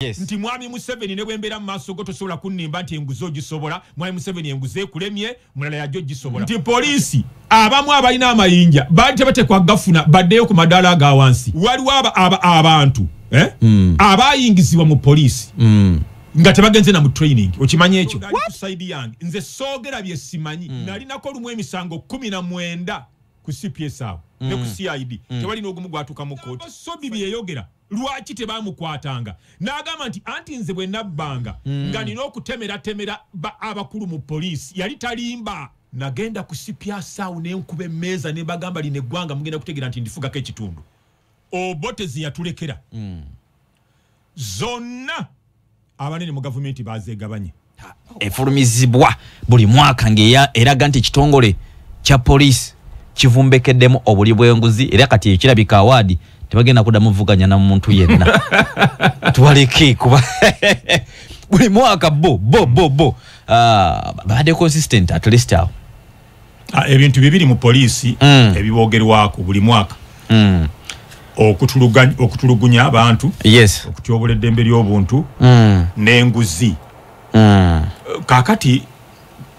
yes. nti mwami museveni ne bwembeera mu maaso go tosobola kunnimba nti enguzi ogisobola mwami museveni enguzi ekulemye mulala yajo ogisobola nti poliisi abamu abalina amayinja baali tebatekwa gafuna baddeyo ku madaala aga wansi waliwo abantu eh? mm. abayingizibwa mu poliisi mm. nga tebagenze na mu training okimanyi ekyo nze soogera bye simanyi mm. nalinako olumu emisango kumi na mwenda ku cps awo mm. ne ku mm. cid mm. tewali n'ogumu gwatuuka mu kooti sobi bye yayogera lwaki tebaamukwatanga n'agamba nti anti nze bwe nabbanga mm. nga nina okutemeratemera abakulu mu poliisi yali talimba nagenda ku cps awo ne nkuba emmeeza ne bagamba lino eggwanga mugenda kutegeera nti ndifugako ekitundu obote zeyatulekera mm. zonna abanene mu gavumenti bazegabanye efulumizibwa buli mwaka ngaeraga nti ekitongole kya poliisi kivumbekeddemu obuli bwenguzi era kati ekirabika awaadi tebagenda kuda muvuganya na muntu yenna tubaleke kuba buli mwaka bo bo bo bo ah, babadde consistent at least awo Ah, ebintu bibiri mu poliisi mm. ebibogerwako buli mwaka mm. okutulugunya abantu yes. okutyobola eddembe ly'obuntu mm. n'enguzi mm. kakati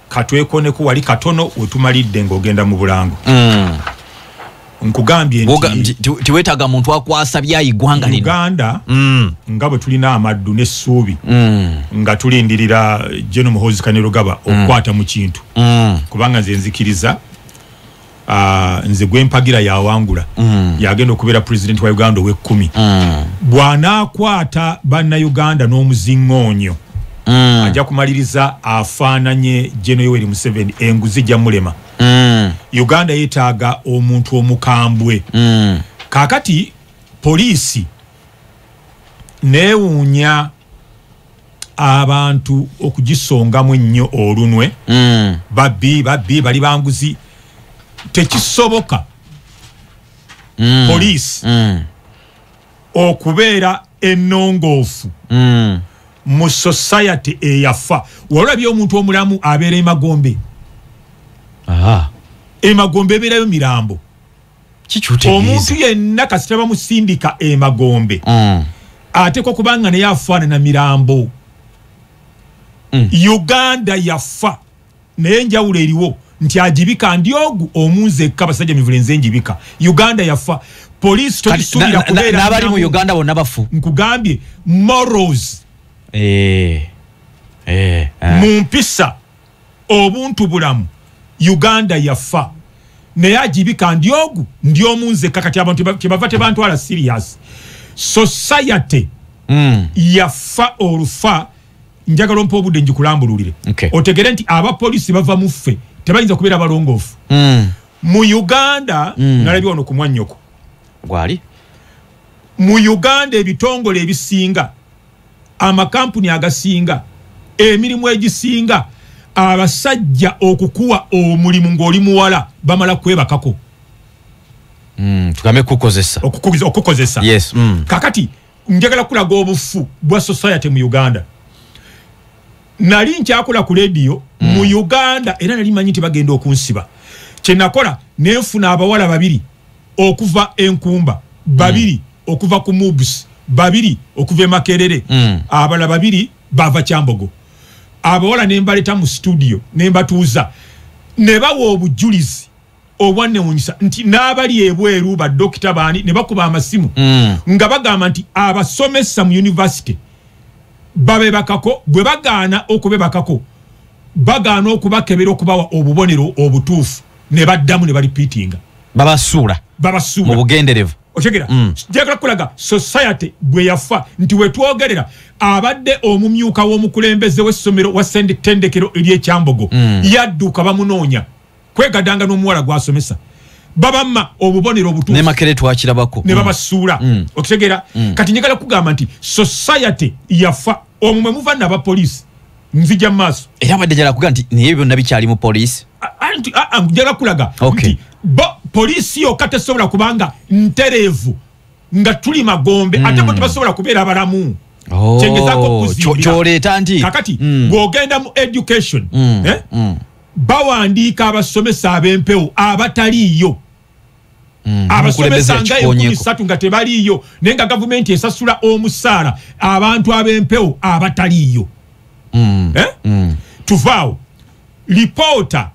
katwekoneko wali katono wetumalidde ng'ogenda mu bulango mm. nkugambye nti tiwetaga muntu akwasa byayigwanga lino uganda mm. nga bwe tulina amaddu n'essuubi mm. nga tulindirira jeno muhozi kanirugaba mm. okukwata mu kintu mm. kubanga nze nzikiriza uh, nze gwempagira yawangula mm. yagenda okubeera president wa uganda ow'ekkumi mm. bw'anaakwata bannayuganda n'omuzingoonyo mm. ajja kumaliriza afaananye jeno yoweri museveni enguzi jja mulema mm. uganda yetaaga omuntu omukambwe mm. kakati poliisi newuunya abantu okugisongamu ennyo olunwe mm. babbi babbi bali banguzi tekisoboka mm. poliisi mm. okubeera ennongoofu mm. mu society eyafa walabye omuntu omulamu abeera emagombe emagombe ebeerayo mirambo omuntu yenna kasita bamusindika emagombe mm. ateekwa kubanga naye afaanana mirambo mm. uganda yafa naye enjawulo eriwo nti ajibika ndi ogu omunze ekka basajja mivule nze njibika uganda yafa poliisi tokisuubira kubeera n'abali mu uganda bonna bafu nkugambye morals eh, eh, eh. mu mpisa obuntu bulamu uganda yafa naye ajibika ndi ogu ndi omunze ekka kati abantu kyebava tebantwala serious society mm. yafa olufa njagala ompa obudde njikulambululire okay. otegere nti abapolisi bava mu ffe tebayinza kubeera balongoofu mm. mu uganda mm. nalabye wano ku mwannyoko gwali mu uganda ebitongole ebisinga amakampuni agasinga emirimu egisinga abasajja okukuwa omulimu ng'oli muwala bamala kwebakako mm, tugambe kukozesa okukozesa yes mm. kakati njagala kulaga obufu bwa society mu uganda nali nkyakola ku lediyo mm. mu uganda era nali manyi nti bagenda okunsiba kyenakola nenfuna abawala babiri okuva enkumba babiri mm. okuva ku mubs babiri okuva emakerere mm. abala babiri bava kyambogo abawala nembaleta mu studio nembatuuza nebawa obujulizi obwanewunyisa nti n'abali ebweru badokita baani ne bakuba amasimu mm. nga bagamba nti abasomesa mu univesity babebakako bwe bagaana okubebakako bagaana okubakebera okubawa obubonero obutuufu ne baddamu ne balipiitinga babasuula babasuula mu bugenderevu otegera mm. jagala kulaga society bwe yafa nti wetwogerera abadde omumyuka w'omukulembeze w'essomero wa senditendekero ery'ekyambogo mm. yadduka bamunoonya kwegadanga n'omuwala gwasomesa babama obubonero obutunemakere twakirabako ne babasuula mm. mm. okitegera mm. kati njagala kugamba nti society yafa omwe mwe muva naba poliisi nzija maaso era badde njala kuga nti naye byonna bikyali mu poliisi njala kulaga nti poliisi yokka tesobola kubanga ntereevu nga tuli magombe ate bo tebasobola kubeera abalamu oh, kyengezaako okuzimbira kyoleeta nti kakati bw'ogenda mu education eh? bawandiika abasomesa ab'empewo abataliiyo Mm, abasomesa nga enkumi satu nga tebaliiyo naye nga gavumenti esasula omusaala abantu ab'empewo abataliiyo mm, eh? mm. tuvaawo lipoota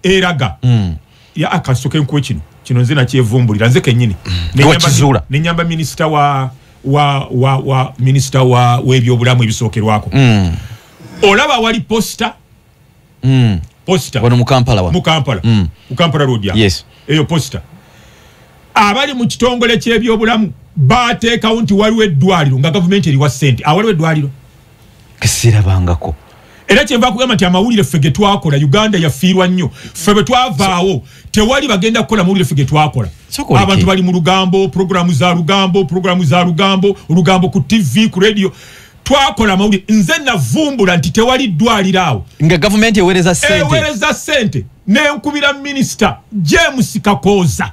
eraga mm. ya akasoke nkuwe kino kino nze nakyevumbulira nze kenyini mm. nenyamba minisita wa wa wa wa minisita wa webyobulamu ebisokerwako mm. olaba wali posta mm. posita wano mu kampala wano mu kampala mm. mu kampala road ya yes eyo posita abali mu kitongole ky'ebyobulamu baateekawo nti waliwo eddwaliro nga gavumenti eriwa ssente awaliwo ah, eddwaliro kesirabangako era kyenva kugamba nti amawulire ffe getwakola uganda yafiirwa nnyo ffe bwe twavaawo tewali bagenda kukola mawulire ffe getwakola abantu bali mu lugambo puroguramu za lugambo puroguramu za lugambo olugambo ku tv ku radio twakola amawulire nze navumbula nti tewali ddwaliro awo nga gavumenti ewereza sente ewereza sente nenkubira minisita james kakooza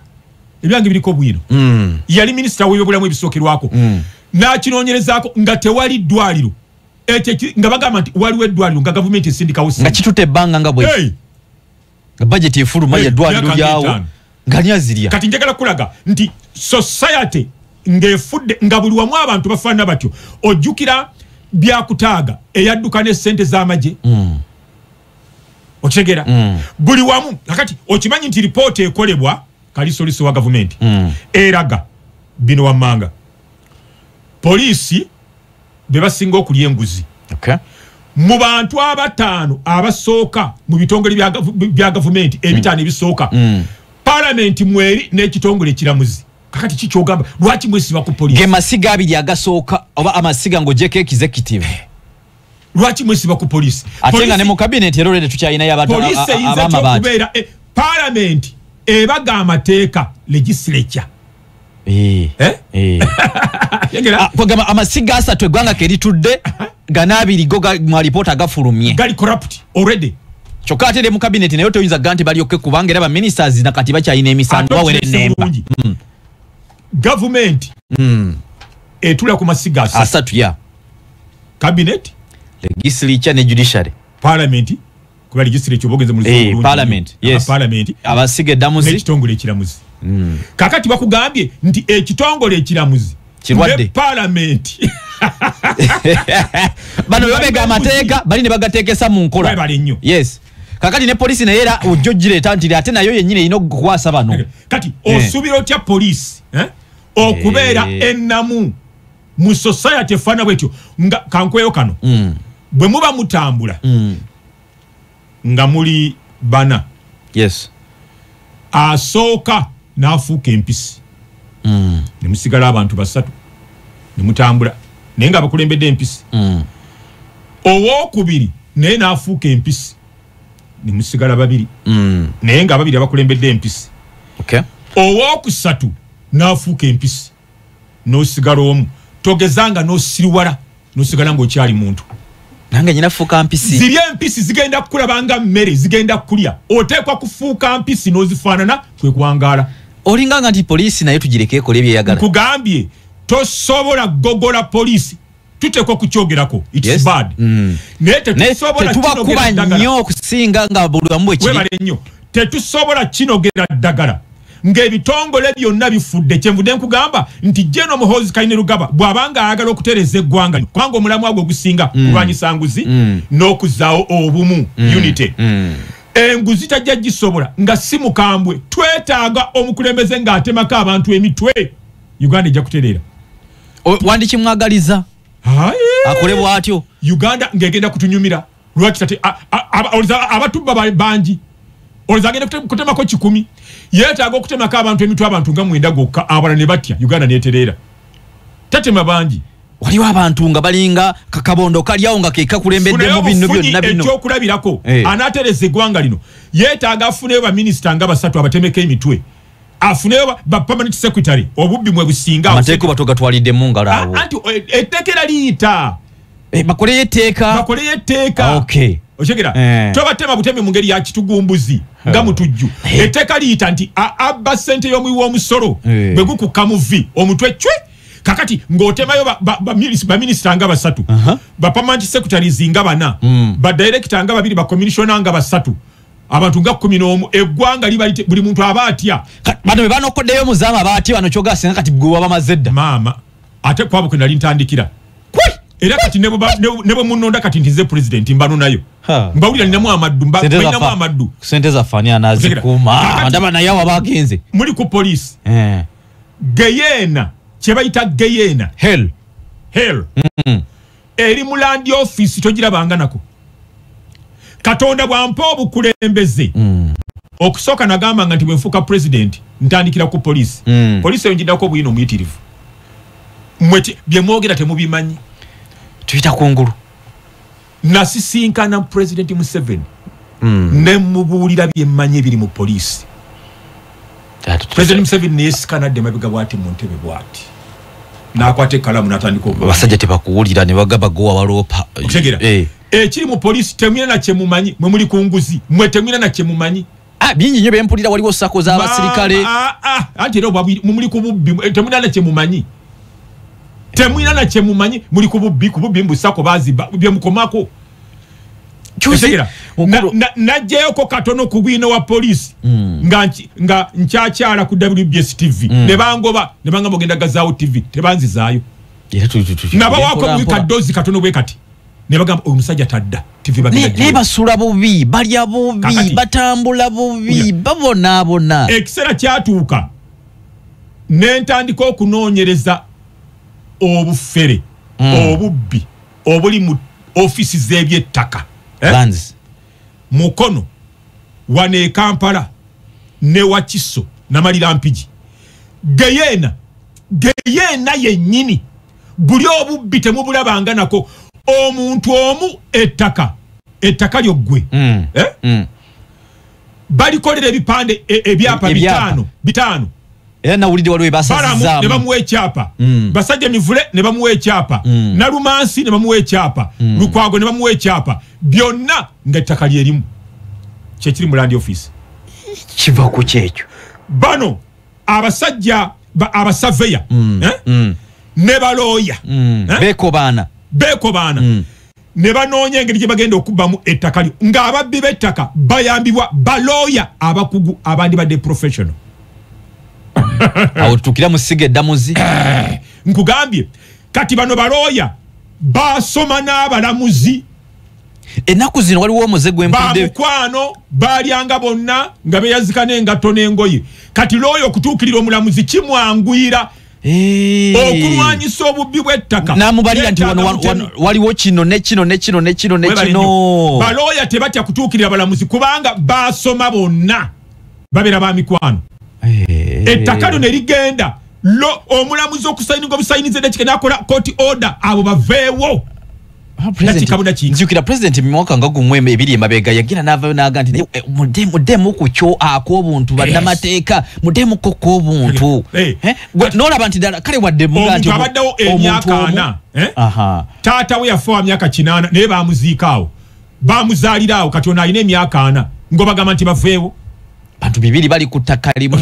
ebyange biriko bwino mm. yali minisita webyobulamu ebisookerwako mm. nakinoonyerezaako nga tewali ddwaliro ekyo nga bagamba nti waliwo eddwaliro nga gavumenti esindikawo nga kitute ebbanga nga bwe hey. nga bajeti efuluma eh, yadwaliro lyawo ngani azirya kati njagala kulaga nti society ng'efudde nga buli wamu abantu bafaanana batyo ojjukira byakutaaga eyadduka n'essente z'amagye mm. okitegera mm. buli wamu kakati okimanyi nti lipoota ekolebwa kalisolisi wa gavumenti mm. eraga bino wammanga poliisi bebasinga okulya enguzi okay. mu bantu abataano abasooka mu bitongole bya gavumenti ebitaano mm. ebisooka mm. palamenti mweri n'ekitongole ekiramuzi kakati kikyogamba lwaki mwesiba ku polisi ge masiga abiri agasooka oba amasiga ng'ogyeko executive eh. lwaki mwesiba ku polisi ate nga ne mu kabineti era olwede tukyalinayo abadpolisi eyinza kyokubeera eh, palamenti ebaga amateeka legislature Eh, Eh? eh. Yegera? Ah, kwagamba amasiga asatu eggwanga ke litudde gana abiri go ga- mu alipoota gafulumye gali corrupt already kyokka ate ne mu kabineti naye toyinza ga nti balyokke kubanga era baministers na kati bakyalina emisango Ate bawera okiteesa ennemba bulungi. Mm, gavumenti mm. etula ku masiga asatu asatu ya kabineti legislature ne judiciary palamenti kuba legislature obogenze mu luzungu Eh, bulungi. parliament, Aba yes. parliament abasiga eddamuzi n'ekitongole ekiramuzi kakati bakugambye nti ekitongole ekiramuzi Kirwadde. ne palamenti bano bebamega amateeka bali ne bagateekesa mu nkola Webale nnyo. yes kakati ne polisi naye era ojja ogireeta nti ate nayo yennyini erina okukwasa bano kati Eh. osuubira otya poliisi eh, okubeera Eh. ennamu mu society efaana bwetyo nga kankweyo kano mm. bwe muba mutambula mm. nga muli bana yes asooka n'afuuka empisi mm. ne musigala abantu basatu ne mutambula naye nga abakulembedde empisi mm. owokubiri naye n'afuuka empisi ne musigala babiri mm. naye nga ababiri abakulembedde empisi okay. owokusatu n'afuuka empisi nosigala omu togezanga nosiriwala nosigala ngaokyali muntu nange nyina fuuka mpisi ziri empisi zigenda kukulabanga mmere zigenda kukulya oteekwa kufuuka mpisi nozifaanana kwekwangaala olinganga nti poliisi naye tugireke ekola ebyeyagala nkugambye tosobola gogola poliisi tuteekwa okukyogerako its Yes. bad Mm. naye tetusobola tetubakuba kinogera ddagala. nnyo okusinga nga buli wamu bwekiri webale nnyo tetusobola kinogera ddagala ng'ebitongole byonna bifudde kyenvudde nkugamba nti jeno muhoozi kaine lugaba bw'abanga ayagala okutereeza eggwanga lino kubanga omulamwa gwe ogusinga kulwanyisa nguzi n'okuzaawo obumu unity enguzi tajja gisobola nga si mukambwe twetaaga omukulembeze ng'atemako abantu emitwe uganda ejja kutereera O- wandikimwagaliza Aye. akole bwatyo uganda ngegenda kutunyumira lwaki tate a- a- aba- olza- abatubba ba- bangi olza agenda kute- kutemako kikumi yetaaga okutemako abantu emitwe abantu nga mwenda gokka abala ne batya uganda netereera tatema bangi waliwo abantu nga balinga kakabondo kalyawo nga kekakulembedde Funayo mu bino obufunyi byonna bino ekyokulabirako Eh. anaatereza eggwanga lino yetaaga afuneyo baminisita nga basatu abatemeko emitwe afuneyo ba permanent secretary obubbi mwe businga amateeka batogatwalidde mu ngalo ah, awo anti eh, etteeka era liyita eh, bakoleyo etteeka bakoleyo etteeka ah, okay okyegera eh. tobatema butemi mu ngeri ya kitugumbuzi nga mutujju etteeka liyita nti abba ssente y'omuwi w'omusolo bwe gukukka mu vi omutwe cwe kakati ng'otemayo baminisita nga basatu bapamanti secretaries nga bana mm. badirekita nga babiri bacommissiona nga basatu abantu nga kumi n'omu eggwanga liba lite buli muntu aba atya bano be banokoddeyo muzaama aba atya bano kyogaa singa kati gwe waba mazze dda maama ate kwabo kwe nali ntandikira era kati ne bwe munonda kati ntize pulezidenti mbano nayo mbawulira ninamu amaddu mbanamu amaddu sente zafani anazikuuma ndaba naye awo aba agenze muli ku poliisi eh. geyeena kye bayita geyeena hel hel mm. eri mu landi ofiisi togirabanga nako katonda bwampa obukulembeze mm. okusooka nagamba nga nti bwenfuuka pulezidenti ntandikira ku poliisi mm. poliisi eyo njiddako obuyina omuyitirivu mwe byemwogera temubimanyi tuyita kungulu nasisinkana pulezidenti museveni mm. nemubuulira byemmanyi ebiri mu poliisi president museveni neyesikana adde mabiga bwati mu ntebe bwati nakwata ekalamu natandika abasajja tebakuwulira nebagamba gowa waloopa otegera eh. ekiri mu polisi temwina na kyemumanyi mwe muli ku nguzi mwe temwina na kyemumanyi ah, bingi nyo bempulira waliwo sako z'abasirikale ah, ah, anti era mumuli ku bubbi eh, temwina na kyemumanyi temwina na kyemumanyi muli ku bubbi ku bubbi mbu sako baziba byemukomako najjayoko katono ku bwino wa polisi hmm. nga nkyakyala ku wbs tv hmm. nebangoba nebanga mugenda gazaawo tv tebanzizaayo nabawako bubi kadozi katono bwe kati nebagamba oyo musajja tadda tvnaye basula bubi balya bubi batambula bubi babonaabona ekiseera kyatuuka nentandika okunoonyereza obufere hmm. obubbi obuli mu ofisi z'ebyettaka eh? mukono wano e kampala ne wakiso namalira mpigi geyeena geyeena yennyini buli obubbi temubulabanga nako omuntu omu ettaka ettaka lyo ggwe mm. Eh? Mm. balikolera ebipande e, ebyapa bitano bitano era nawulidde waliwo ebasazizaamu ne bamuwa ekyapa mm. basajja mivule ne bamuwa ekyapa mm. nalumansi ne bamuwa ekyapa mm. lukwago ne bamuwa ekyapa byonna nga ettaka lyerimu kyekiri mu land office kiva ku kyekyo bano abasajja abasaveya mm. eh? mm. ne balooya mm. eh? bekobaana bekobaana mm. ne banoonya engeri gye bagenda okubbamu ettaka lyo ng'ababbi b'ettaka bayambibwa balooya abakugu abandibadde professional awo tutukira mu siga eddamuzi eh, nkugambye kati bano balooya basoma n'abalamuzi ennaku zino waliwo omuze gwembamukwano balyanga bonna nga beyazika n'engatto n'engoye kati looya okutuukirira omulamuzi kimwanguyira Eh. okulwanyisa obubbi bw'ettaka namubalira nti wano wano- wano- waliwo kino ne kino ne kino ne kino ne Webale kino nnyo. balooya tebatya kutuukirira balamuzi kubanga baasoma bonna babeera ba mikwano Eh. ettaka lino erigenda lo omulamuzi okusayininga obusayiniza edakika nakola koti order abo baveewo Ah, Kati kabuda ki? nzijukira pulezidenti mu mwaka nga gumu em- ebiri emabega yagira n'avayo n'aga nti "Eh, mude- mudemu ku kyo ak'obuntu bannamateeka mudemu ko kw'obuntu Eh, Eh, gwe- n'olaba nti ddala kale wadde muga omuntu nti omu- abaddewo omuntu emyaka omu- ana eh? Aha. taata we yafa wa myaka kinaana naye bamuziika awo bamuzaalira awo kati ono alina emyaka ana ngobagamba nti baveewo bantu bibiri bali ku ttaka limu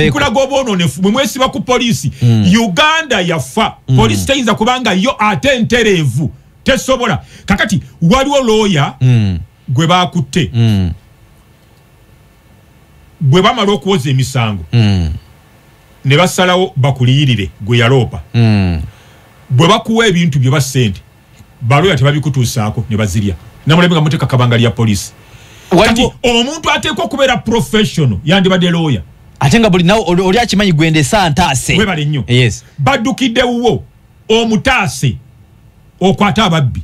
okulaga obwononefu bwe mwesiba ku poliisi hmm. uganda yafa hmm. poliisi teyinza kubanga yo ate entereevu tesobola kakati waliwo looya hmm. gwe bakutte bwe bamala okuwoza emisango ne basalawo bakuliyirire gwe yaloopa bwe bakuwa ebintu bye ba ssente baloya tebabikutuusaako ne bazirya namulembe nga muteeka kabanga lya poliisi kati omuntu ateekwa okubeera professional yandibadde looya ate nga buli nawe oli akimanyi gwenda esantaase webale nnyo yes. baddukidde wuwo omutaase okwata ababbi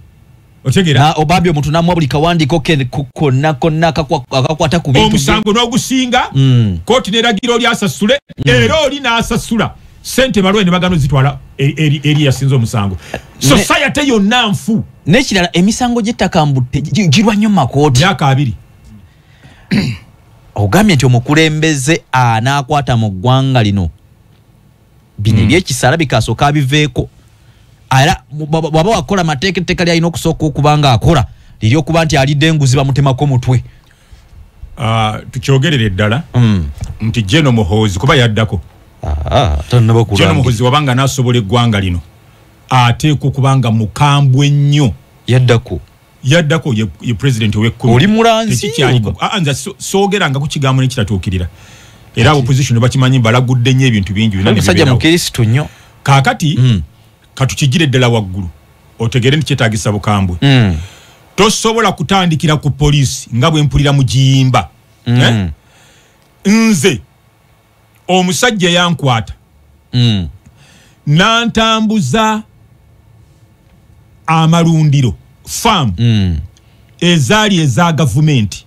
otegera obabbi omuntu namwa buli kawandiiko ke konna konna akakwata ku bintu omusango n'ogusinga mm. kooti neragira oli asasule mm. era oli n'asasula sente balwe ne bagano zitwala e, eri eri yasinze omusango society yo nanfu nekirala emisango gyettaka mbu girwa nnyo makooti myaka abiri ogambye nti omukulembeze anaakwata mu ggwanga lino bino hmm. ebyekisala bikasooka abiveeko era bwaba wakola amateeka etteeka lyalina okusooka okuba nga akola liri okuba nti alidde enguzi bamutemako mutwe Ah, tukyogerere ddala mm. nti jeno muhoozi kuba yaddako ah, jeno muhoozi wabanga nasobola eggwanga lino ateekwa okubanga mukambwe nnyo yaddako yaddako ye president owekkumioli mulanzianza ah, sogeranga ku kigambo nekitatuukirira era opposition bakimanyi balagudde nnyo ebintu bingi musajja mukirisitu nnyo kakati mm. katukijire ddala waggulu otegere nti kyetagisa bukambwe mm. tosobola kutandikira ku poliisi nga bwe mpulira mu giyimba mm. eh? nze omusajja yankwata mm. nantambuza amalundiro faamu mm. ezaali eza gavumenti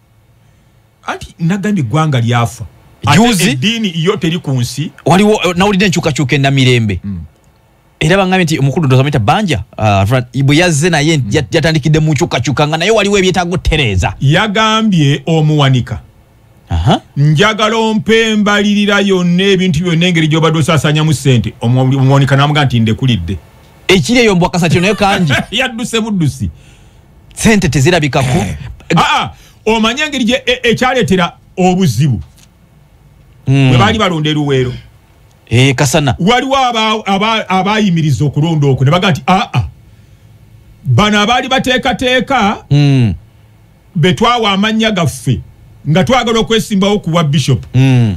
anti nagambye eggwanga lyafa juzi eddiini yo teri ku nsi waliwo eh, nawulidde enkyukakyuka ennamirembe mm. era bangambye nti omukulu dozamita banja ah, bwe yazze naye mm. yatandikidde mu nkyukakyuka nga naye waliwo ebyetaaga otereeza yagambye omuwanika njagala ompembalirira yonna ebintu byonna engeri gyobadde osasanyamu sente omuwanika namuga nti ndekulidde ekiri eyo mbwakasatyo naye kangi yadduse buddusi sente tezirabikako eh. ah, ah, omanye engeri gye e, ekyaletera obuzibu hmm. bwebaali balonda eruweero eh, kasana waliwo abayimiriza okulonda okwo ne baga nti aa ah, bano abaali bateekateeka hmm. betwawa amannya gaffe nga twagala okwesimbawo ku bwa bishop hmm.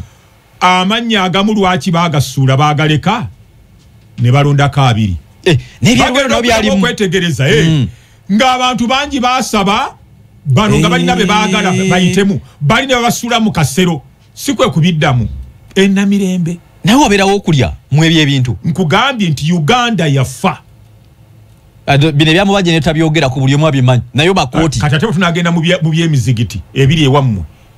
amannya agamu lwaki bagasuula bagaleka ne balondako abiri eh, okwetegereza eh, mm. ng'abantu bangi basaba bano nga balina be baagala eh. bayitemu bali ne babasuula mu kasero si kwe kubiddamu enamirembe naye wabeerawo okulya mu ebyo ebintu nkugambye nti uganda yafa bino ebyamubaje netabyogera ku buli omu abimanyi naye bakooti kati ate bwetunagenda mu byemizigiti ebiri ewammwe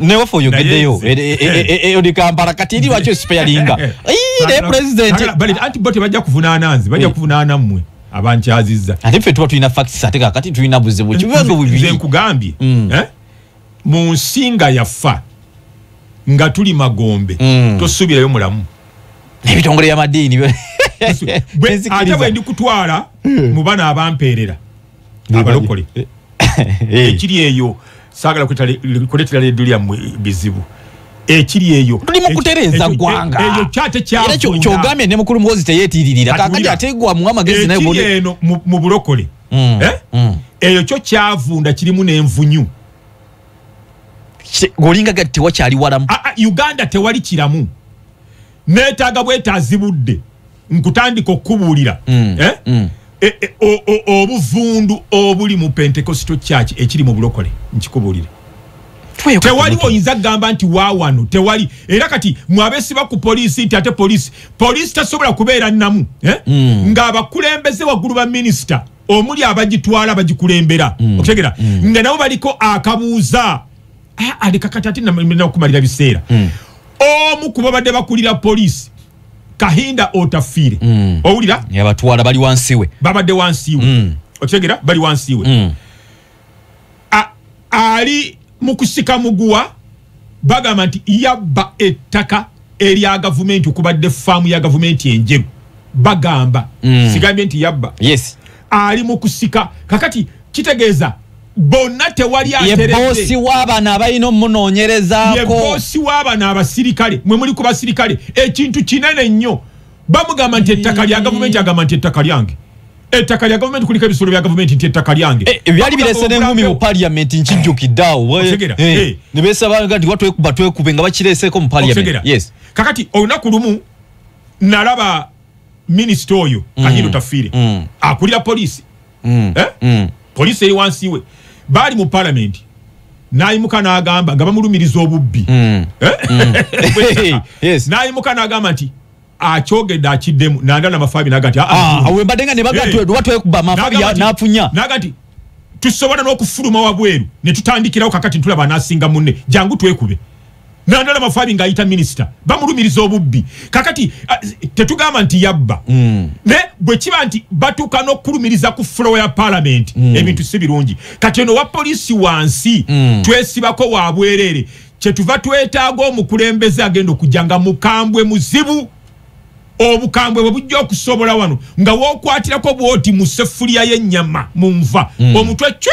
newaffe oyogedeyo Naye nze- e- e- e- e- oli kampala kati eri waki osipeyalinga Ii, naye pulezidenti Sagala- bali- anti bo tebajja kuvunaana nze bajja Eh. kuvunaana mmwe abankyazizza ate ffe tuba tulina facts ate kakati tulina buzibu kibibazo Nze- nze bubiri nkugambye Mm. eh, mu nsi nga yafa nga tuli magombe Mm. tosuubirayo mulamu ebitongole byamadiini Gwe- ate bwendi kutwala mu bana abampeerera abalokole eh, eh. ekiri eyo sagala kuletera ledu lyammwe bizibu ekiri eyo tuli mu kutereeza ggwanga e- eyo kyate kyakyogamye ne mukulu muwozi teyetiiririra kakati ategwa mu amagezi naye ekiri eno mu bulokole mm, eh? mm. eyo kyo kyavunda kirimu n'envunyu olinga gati tewakyali walamu uganda tewali kiramu neetaaga bwetaazibudde nkutandika okukubuulira mm. eh? mm. e, e, o, o, obuvundu obuli mu pentecostal church ekiri mu bulokole nkikubuulire tewali oyinza kugamba nti wawano tewali era kati mwabesiba ku poliisi nti ate poliisi poliisi tasobola kubeera namu eh? mm. ng'abakulembeze waggulu ba minisita omuli abagitwala bagikulembera mm. okutegera mm. nga nabo baliko akabuuza Ah, aleka kati ate namina okumalira biseera hmm. omu ku babadde bakulira poliisi kahinda otafiire hmm. owulira yabatwala bali wansiwe babadde wansiwe hmm. okitegera bali wansiwe ali mu kusika muguwa bagamba nti yabba ettaka erya gavumenti okubadde faamu ya gavumenti enjeru bagamba sigambye nti yabba ali mu kusika kakati kitegeeza bonna tewali aterebosi wabana abalina omunonyerezakoboosi wabana abasirikale mwe muli ku basirikale ekintu kinene nnyo bamugamba nti ettaka lya gavumenti agamba nti ettaka lyange ettaka lya gavumenti kuliko ebisolo bya gavumenti nti ettaka lyange eh, eh, byali birese nenkumi mu paliamenti nkijjukiddeawo eh, nebesabanga nti watwekuba twekube nga bakireeseeko mu paliamenti kakati olunaku lumu nalaba minisita oyo mm. kanyino tafiire mm. akulira poliisi mm. eh? poliisi eri wansi we baali mu palamenti nayimuka nagamba nga bamulumiriza obubbi eh? nayimuka nagamba nti akyogedde akiddemu nanda namafabi nagati ah, ah, ah, wembadde nga nebagatwekuba eh. mafabi nafunya nagati tusobola n'okufuluma wabweru ne tutandikirawo kakati ntulaba anasinga munne jangu twekube nandala mafabi nga ayita minisita bamulumiriza obubbi kakati tetugamba nti yabba mm. ne bwe kiba nti batuuka n'okulumiriza ku flowa ya palamenti mm. ebintu si birungi kati ono wa polisi wansi mm. twesibako wa bwereere kyetuva twetaaga omukulembeze agenda okujja nga mukambwe muzibu obukambwe bwe bujja okusobola wano nga wokwatirako bwoti mu sefuliya y'ennyama mu nva mm. omutwe cwe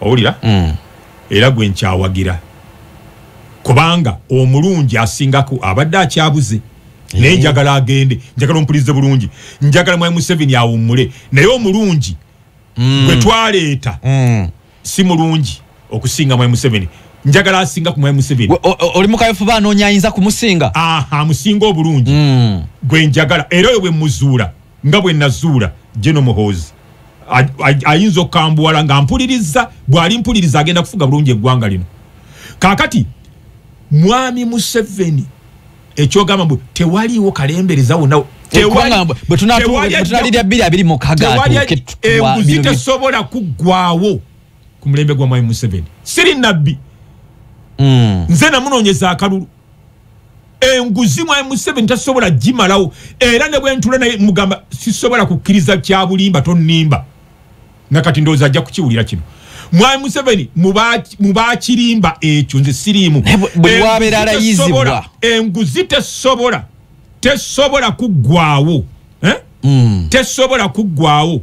owulira mm. era gwe nkyawagira kubanga omulungi asingako abadde akyabuze naye eh. njagala agende njagala omupulize bulungi njagala mwai museveni awummule naye omulungi mm. gwe twaleeta mm. si mulungi okusinga mwai museveni njagala asinga ku mwai museveni oli mukayofuba anoonya ayinza kumusinga amusinga obulungi gwe njagala era oyo bwe muzuula nga bwe nazuula gye nomuhoozi ayinza okukambuwala nga mpuliriza bwali mpuliriza agenda kufuga bulungi eggwanga lino kakati mwami museveni ekyogamba mbu tewaliwo kalembereza wona enguzi tesobola kuggwawo ku mulembe gwa mwami museveni siri nabbi hmm. nze namunonyeza akalulu enguzi mwami museveni tasobola gimalawo era ne bwentula naye mugamba sisobola kukkiriza kyabulimba tonimba nakati ndowooza ajja kukiwulira kino mwami museveni mubakirimba ekyo nze siriimu enguzi tesobola tesobola kuggwawo eh? mm. tesobola kuggwawo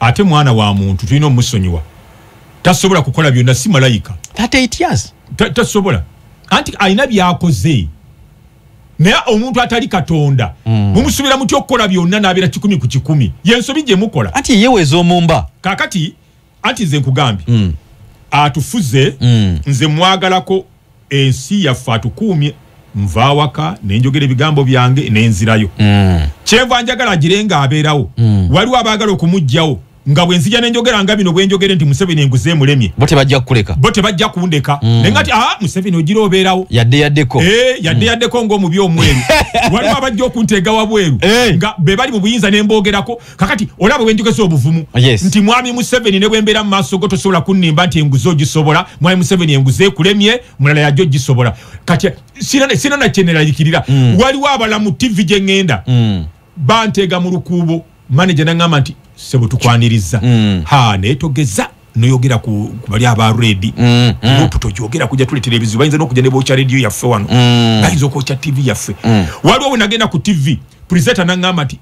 ate mwana wa muntu tulina omusonyiwa tasobola kukola byonna si malayika tasobola anti alina byakoze naye omuntu atali katonda mm. mumusubira mutya okukola byonna nabeera kikumi ku kikumi yensobi gyemukola anti yeyeweeza omumba kakati anti nze nkugambye mm. atufuze mm. nze mwagalako ensi yaffe atukuumye nva awaka nenjogera ebigambo byange nenzirayo mm. kyenva njagala agire nga abeerawo mm. waliwo abaagala okumugjawo nga bwenzija nenjogera nga bino bwenjogere nti museveni enguze emulemi bo tebajja kukuleka bo tebajja kundeka mm. naye nga ti ah, museveni ogira obeerawo yadde yaddeko eh, yadde mm. yaddeko ngaomubi omweru waliwo abajja okunteega wabweru eh. nga be bali mu buyinza nemboogerako kakati olaba wenjogeza obuvumu oh, yes. nti mwami museveni ne bwembeera mu maaso go tosobola kunnimba nti enguzi ogisobola mwami museveni enguzi ekulemye mulala yajo ogisobola kati sina nakyeneralikirira mm. waliwo abala mu tivi gye ŋŋenda mm. banteega mu lukuubo maneja naŋŋamba nti sebo tukwaniriza mm. ha naye togeza noyogera ku bali aba redi mm, mm. nupu tokyogera kuja tuletera ebizibu bayinza nokuja ne bokya rediyo yaffe wano mm. bayinza okwokya tivi yaffe mm. waliwo wenagenda ku tivi puriseta naŋŋamba nti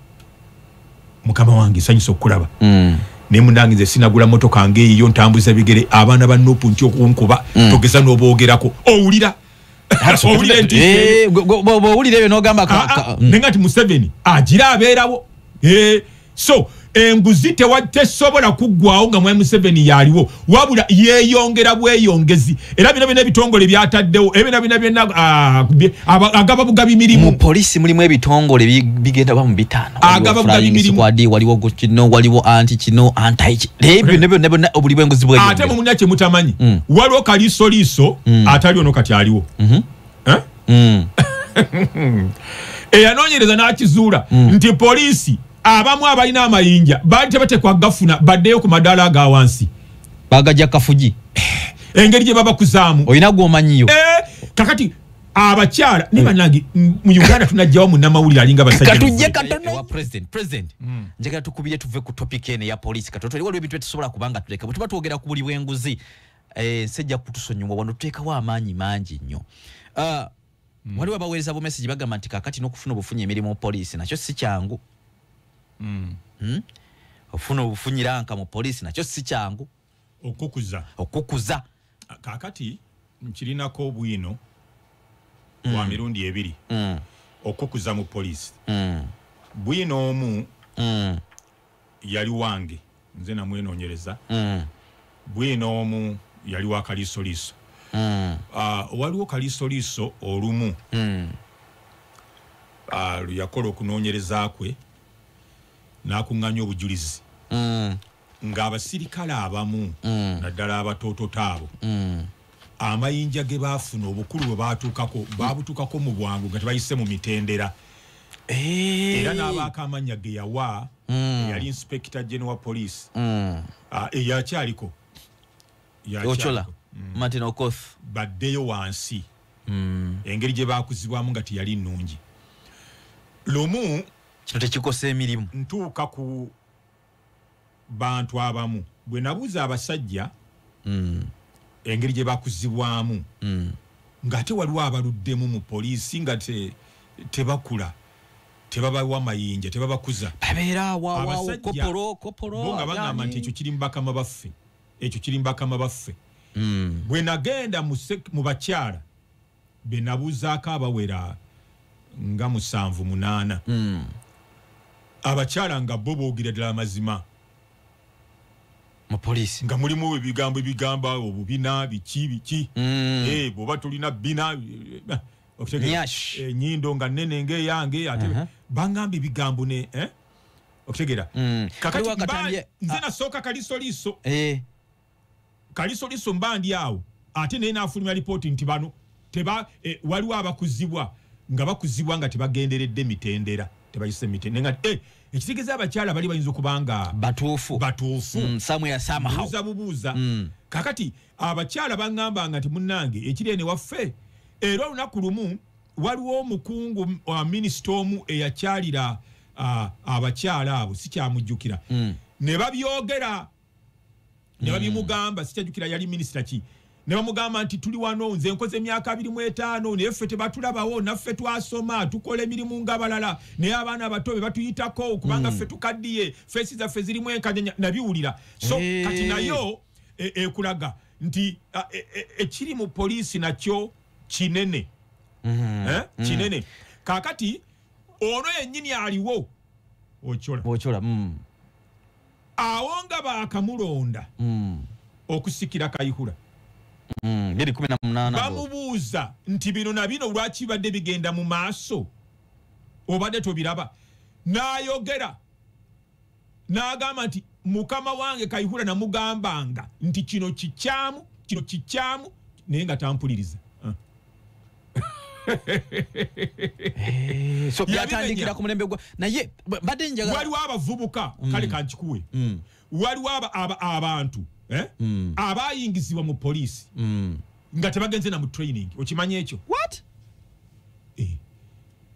mukama wange sanyusa okukulaba mm. naye munange nze sinagula motoka ngaeyiyo ntambuza bigere abaana ba nupu nti okunkuba mm. togeza n'oboogerako owulira owulira ebyo eh, nogamba ah, ah, mm. naye nga ti museveni agira abeerawo eh, so enguzi tesobola kuggwawo nga mwami museveni yaliwo wabula yeyongera bweyongezi era bino bino ebitongole byataddewo era bino bino byona ah, agaba bugabi mirimu polisi mulimu ebitongole bigenda bamu bitaano agaba bugabi mirimu wadi waliwo kino waliwo anti kino anti ebyo ne byo ne byo obuli bwenguzi bwe ate mu munya kyemutamanyi mm. waliwo kaliso liso mm. atali ono kati aliwo mhm. eh? mm. eyanonyereza n'akizuula nti polisi abamu abalina amayinja baali tebatekwa gafuna baddeyo ku madaala aga wansi bagaja kafuji eh, engeri gye babakuzaamu olina gwomanyiyo eh, kakati abakyala ne eh. banange mu uganda tunajjawo munamawulire alinga basajjatujje katonowa president president hmm. njagala tukubire tuve ku topic ene ya polisi katoto waliwo ebintu byetusobola kubanga tuleka bwetuba twogera ku buli bwenguzi nsejja kutusonyiwa wano tuteekawo amaanyi mangi nnyo ah, mm. waliwo abaweereza bumesegi bagamba nti kakati n'okufuna obufunyi emirimu mu poliisi nakyo si kyangu mm. hmm? ofuna obufunyiranka mu poliisi nakyo si kyangu okukuza okukuza kakati nkirinako obwino mm. wa mirundi ebiri mm. okukuza mu poliisi mm. bwino omu mm. yali wange nze namwenonyereza mm. bwina omu yali wa kalisoliiso mm. uh, waliwo kalisoliiso olumu mm. uh, luyakola okunonyereza kwe nakuŋŋanya obujulizi mm. ng'abasirikale abamu mm. naddala abatoototo abo mm. amayinja ge baafuna obukulu bwe baatuukako baabutuukako mu bwangu nga tebayise mu mitendera eh. era n'abaako amannya ge yawa hmm. eyali inspekita gene wa poliisi hmm. ah, eyakyaliko ocola hmm. martin okoth baddeyo wansi engeri gye baakuzibwamu nga teyali nnungi lumu kino tekikosa emirimu ntuuka ku bantu abamu bwe nabuuza abasajja mm. engeri gye bakuzibwamu mm. ng'ate waliwo abaluddemu mu poliisi nga te, tebakula tebabawa mayinja tebabakuza abasajaabasajjabo nga bagamba nti ekyo kiri mubakama baffe ekyo kiri mubakama baffe mm. bwe nagenda mu bakyala benabuuzaako abawera nga musanvu munaana hmm. abakyala nga bo boogera ddala amazima mupoliisi nga mulimu ebigambo ebigamba obubina biki biki hmm. eh, bwoba tulina bina eh, eh, nyindo nga nene ngaeyange ate uh-huh. bangamba ebigambo ne okutegera hmm. kakati nze nasooka kalisoliiso kalisoliso mba ndi awo ate naye nafulumya lipooti nti bano teba eh, waliwo abakuzibwa nga bakuzibwa nga tebagenderedde mitendera tebayise mitende nga eh, ekitegeza abakyala bali bayinza okubanga batuufu batuufu mm, buuza bubuuza mm. kakati abakyala baŋŋamba nga nti munnange ekiri ene waffe era olunaku lumu waliwo omukungu wa minisita omu eyakyalira abakyala abo sikyamujjukira mm. ne babyogera ne babimugamba sikyajukira yali minisita ki ne bamugamba nti tuli wano nze nkoze emyaka abiri mu etaano naye ffe tebatulabawo naffe twasoma tukola emirimu ng'abalala naye abaana abato be batuyitako kubanga ffe tukaddiye feesi zaffe zirimu enkanyanya nabiwulira so kati nayo e, ekulaga nti e, e, ekiri mu poliisi nakyo kinene mm-hmm. eh, mm. kinene kakati ono yennyini aliwo okyola okyola mm. awo nga baakamulonda mm. okusikira kayihura mm, bamubuuza nti bino na bino lwaki bibadde bigenda mu maaso obadde tobiraba n'ayogera n'agamba nti mukama wange kayihura namugambanga nti kino kikyamu kino kikyamu naye nga tampuliriza Eh, so Yabimenya. byatandikira ku mulembe gwa naye ba- mbadde njagala waliwo abavubuka kale kankikuwe Mm. waliwo aba- aba- abantu eh, Mm. abayingizibwa mu poliisi Mm. nga tebagenze na mu training okimanyi ekyo what Eh.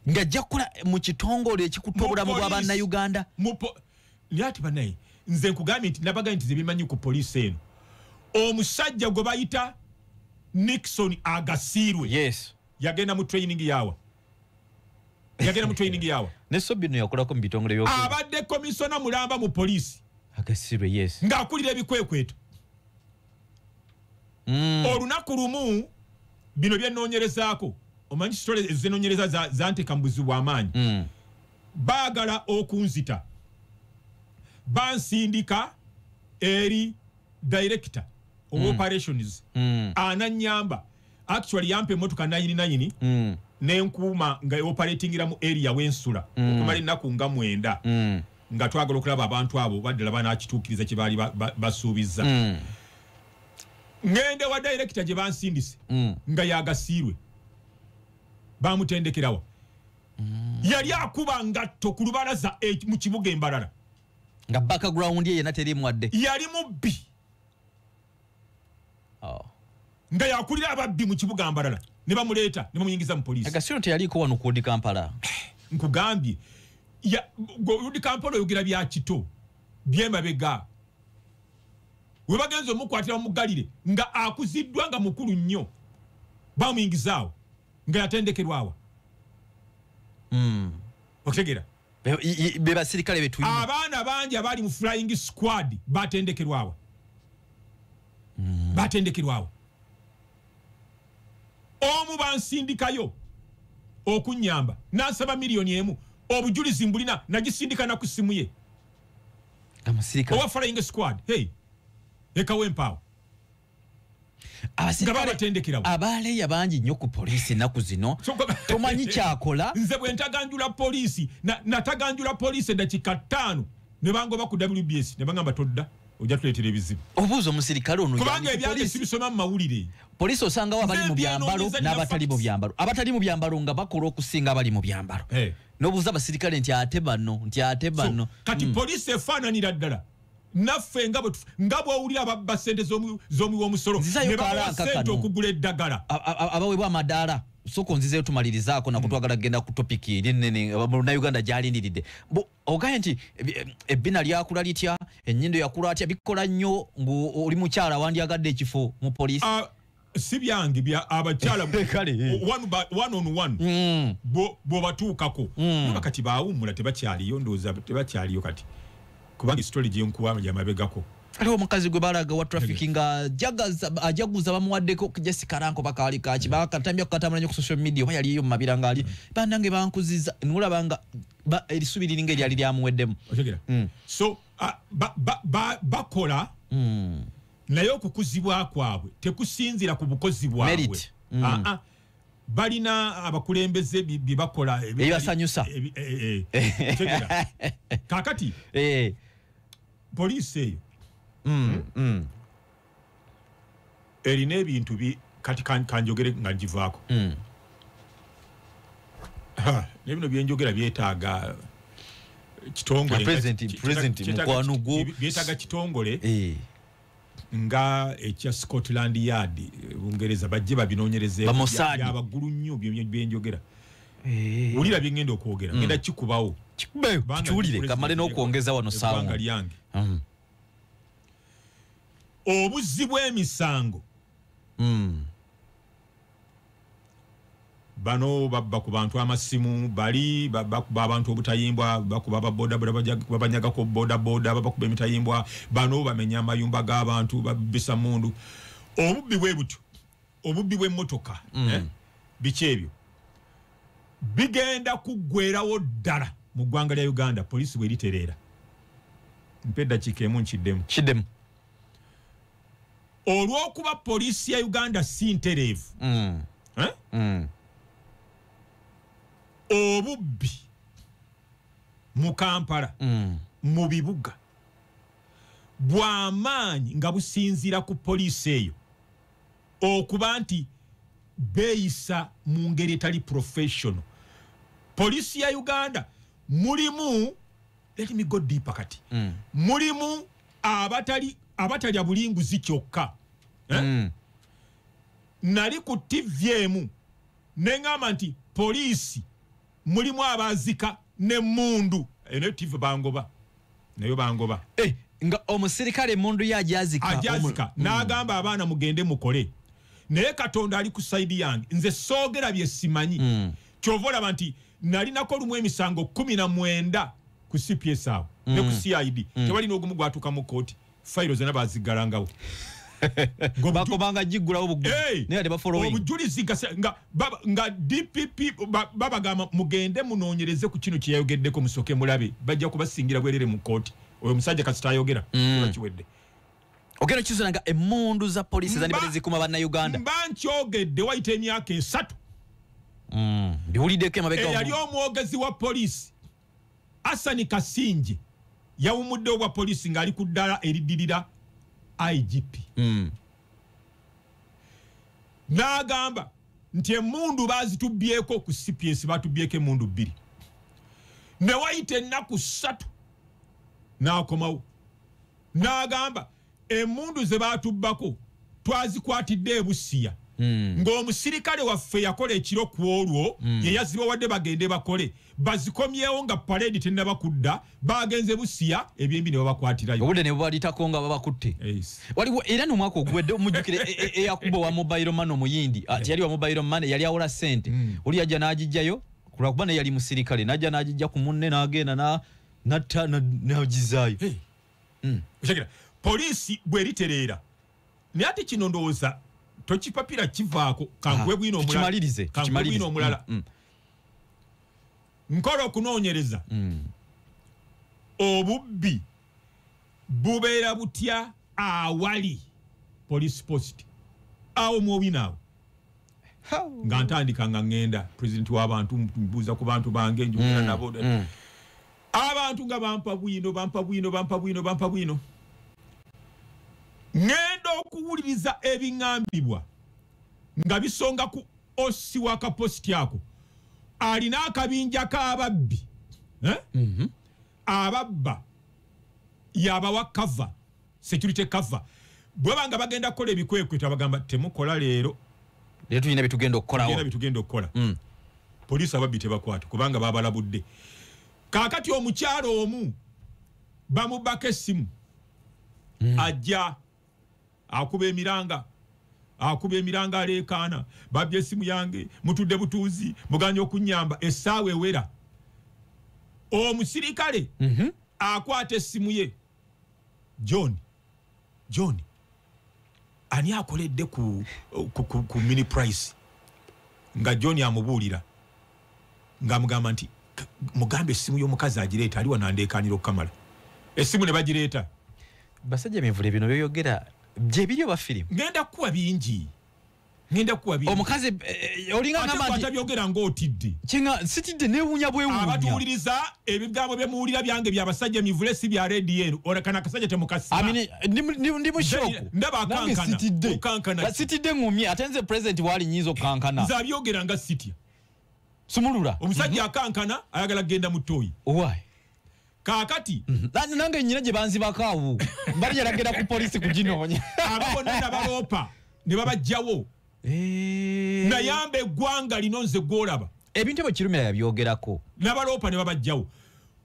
ng'ajja kukola mu kitongole ekikuta obulamu bwa Mu poliisi. bannayuganda Mu po- naye ati banaye nze nkugambye nti nabagambye nti zebimanyi ku poliisi eno omusajja gwe bayita nixon agasiirwe yes. yagenda mu training yawa yagenda mu training yawa ne sobino yakolako mu bitongole byo abadde komisona mulamba mu poliisi agasiirwe yes ng'akulira ebikwekweto mm. olunaku lumu bino byenoonyerezaako omanyi kitole ezenoonyereza zanteka mu buzibu bw'amaanyi mm. baagala okunzita bansindika eri director of mm. operations mm. ananyamba actually yampa emotoka nayini nayini mm. nenkuuma nga operatingira mu area wensula mm. okumala ennaku nga mwenda mm. nga twagala okulaba abantu abo baddala banakituukiriza kye baali basuubizza hmm. ngende wa direkita gye bansindise hmm. nga yagasiirwe bamutendekerawa hmm. yali akuba ngatto ku lubalaza e, mu kibuga embalala nga background ye yena terimu wadde yali mubbi oh. nga yakulira ababbi mu kibuga mbalala ne bamuleeta ne bamuyingiza mu poliisi agasiro teyaliiko wano kuudi kampala nkugambye udi kampala oyogera bya kito byemabega we bagenza omukwatira bamugalire nga akuziddwa nga mukulu nnyo bamuyingizaawo nga yatendekerwawa hmm. okitegeera bebasirikale betulina abaana bangi abali mu flying squad batendekerwawo mm. batendekerwawo omu bansindikayo okunyamba nansaba miliyoni emu obujulizi mbulina nagisindika naku simu ye owa flying squad hey ekawempaawo Abasirikale- Nga babatendekerawo. abaaleya bangi nnyo ku poliisi ennaku zino tomanyi kyakola nze bwe ntaganjula poliisi na- nataganjula poliisi eddakiika ttaano ne bangoba ku wbs ne bagamba todda ojja tuleetera ebizibu obuuza omusirikale ono kubanga yali ku ebyali poliisi. sibisoma mu mawulire poliisi osangawo abali mu Nze byambalo byenoonyeza nina n'abatali mu facts. byambalo abatali mu byambalo nga bakola okusinga abali mu byambalo Eh. n'obuuza abasirikale nti ate bano nti ate bano So, kati poliisi efaananira ddala naffe nga bwetufu nga bwowulira ababba sente zomuwi womusolo nebawa sente okugula eddagala abawebwa amadaala soka onzizeyo tumalirizaako nako mm. twagala kugenda ku topic eri nene munauganda gyalindiridde ogaye nti eh, ebbina lyakula litya enyindo yakula atya bikola nnyo ngaoli mukyala wandyagadde ekifo mu poliisi ah, si byange bya abakyala mm. bwobatuukako mm. oba kati bawummula tebakyaliyo ndowooza tebakyaliyo kati kubanga esitole gyenkuwa yamabegako aliwo omukazi gwe balaga wa traffic nga ajaguza bamuwaddeko jesi karanko bakaali kaki bakatambya kukatambula nyo ku social media oba yaliyo mu mabira ngaali mm. banange bankuziza nolaba nga erisubi liringa eryali lyamuweddemu so bakola naye okukuzibwa kwabwe tekusinzira ku bukozi bwabwe mm. ah, ah. balina abakulembeze byebakola ebibasanyusa eh, eh. kakati eh. poliisi eyo mm, hmm? mm. erina ebintu kati kanjogere nga ngivaako hmm. naye bino byenjogera byetaaga kitongolekitongoleyetaaga kitongole eh. nga ekya scotland yard eh, bungereza bajje babinonyerezeabaggulu nnyo byenjogera eh. wulira byengenda okwogera mm. genda kikubawo kiwulire kamale nokwongeza wano sanga lyange mm. obuzzi bw'emisango mm. bano babba ku bantu amasimu bali bakuba abantu obutayimbwa bakuba babodaboda babanyagako bodaboda babakuba emitayimbwa bano bamenya amayumba g'abantu babisa mundu obubbi bwe butyo obubbi bw'emmotoka mm. eh? biki ebyo bigenda kuggwerawo ddala mu ggwanga lya uganda poliisi bweritereera mpa eddakiika emu nkiddemu kiddemu olw'okuba poliisi ya uganda si ntereevu mm. eh? mm. obubbi mu kampala mm. mu bibuga bw'amaanyi nga businziira ku poliisi eyo okuba nti beeyisa mu ngeri etali professional poliisi ya uganda mulimu let me go deeper kati mm. mulimu abatali abatalya bulinguzi kyokka eh? mm. nali ku ttivi emu ne ŋŋamba nti poliisi mulimu abaazika n'emmundu eyo nayo ttivi bangoba nayo bangoba eh, nga omusirikale emmundu ye ajazika ajazika mm. n'agamba abaana mugende mukole naye katonda ali ku saidi yange nze soogera bye simanyi mm. kyova olaba nti nalinako olumu emisango kumi na mwenda ku cps awo mm. ne ku mm. cid mm. tewali n'ogumu gwatuuka mu kooti fayiro zona baziggalangawo bakobanga giggulawo buguobujulizi nga dpp babagamba mugende munoonyereze ku kino kyeyayogeddeko musooke mulabe bajja kubasingira bwerere mu kooti oyo omusajja kasita ayogera mm. bakiwedde ogenda kizona nga emundu za polisi zandibadde zikuma bannauganda mba nkyogedde wayita emyaka esatu mm. biwuliddeko emabega eyali omwogezi wa polisi Asani Kasingye yawumudde obwa poliisi ng'ali ku ddala eriddirira IGP mm. n'agamba nti emundu bazitubyeko ku cps batubyeko emundu bbiri newayita ennaku ssatu n'akomawo n'agamba Emmundu ze baatubbako twazikwatidde e Busia hmm. ng'omusirikale waffe yakola ekiro ku olwo hmm. ye yazibawadde bagende bakole bazikomyewo nga paleedi tennaba kudda baagenze Busia ebyembi ne babakwatirayo obudde ne bubalitako nga babakutte waliwo era n'omwaka oguwedde omujjukire e, e, eyakuba wa mobile man omuyindi ah, teyali wa mobile man yali awola ssente hmm. oli yajja n'agijjayo kulwakuba naye yali musirikale najja n'agijja ku munne n'agenda na natta nagizayo hmm. okitegera poliisi bweritereera naye ate kino ndowooza tokipapira kivaako kankuwe bwino omulala hmm, hmm. nkola okunoonyereza obubbi bubeera butya awali police post awo mwobinaawo nga ntandika nga ŋŋenda president w'abantu mbuuza ku bantu bange njogera mm, nabo mm. abantu nga bampa bwino bampa bwino bampa bwino bampa bwino ŋenda okuwuliriza ebiŋambibwa nga bisonga ku osi wa kapositi ako alina akabinja k'ababbi eh? mhm. ababba yabawa kava security cover bweba nga bagenda kukola ebikwekwe tabagamba temukola leero leero tulina byetugenda okukolawo byetugenda okukola mm. poliisi ababbi tebakwata kubanga babalabudde kaakati omukyalo omu bamubako essimu mm. ajja akuba emiranga akuba emiranga aleekaana babbi essimu yange mutudde butuuzi muganya okunyamba essaawa ewera omusirikale mm -hmm. akwata essimu ye john john ani akoledde ku, ku, ku, ku mini price nga john amubuulira ng'amugamba nti mugamba essimu y'omukazi agireeta ali wanandeekaanira okukamala essimu ne bagireeta basajja mivule bino byoyogera gyebiri oba firimu ngenda kukuwa bingi ngenda kuwa bi omukazi eh, eh, olinga ngamba nti atabyogera ng'otidde kinga sitidde newunya bwewunya abatuwuliriza ebigambo bye muwulira byange bya basajja mivule si bya rediyo ora kana kasajja temukasiba amine ndi mu shock ndaba kankana kankana sitidde ngumye atenze president wali nyizo kankana za byogera nga sitya sumulura omusajja mhm. akankana ayagala genda mutoyi why kaakati Lan- nange nyina gye banzibako awo bali yalagenda ku polisi kuginoonya abo bonna nabaloopa ne babajjawo Eh. nayamba eggwanga lino nze gwolaba ebintu ebyo kirumira yabyogerako nabaloopa ne babajjawo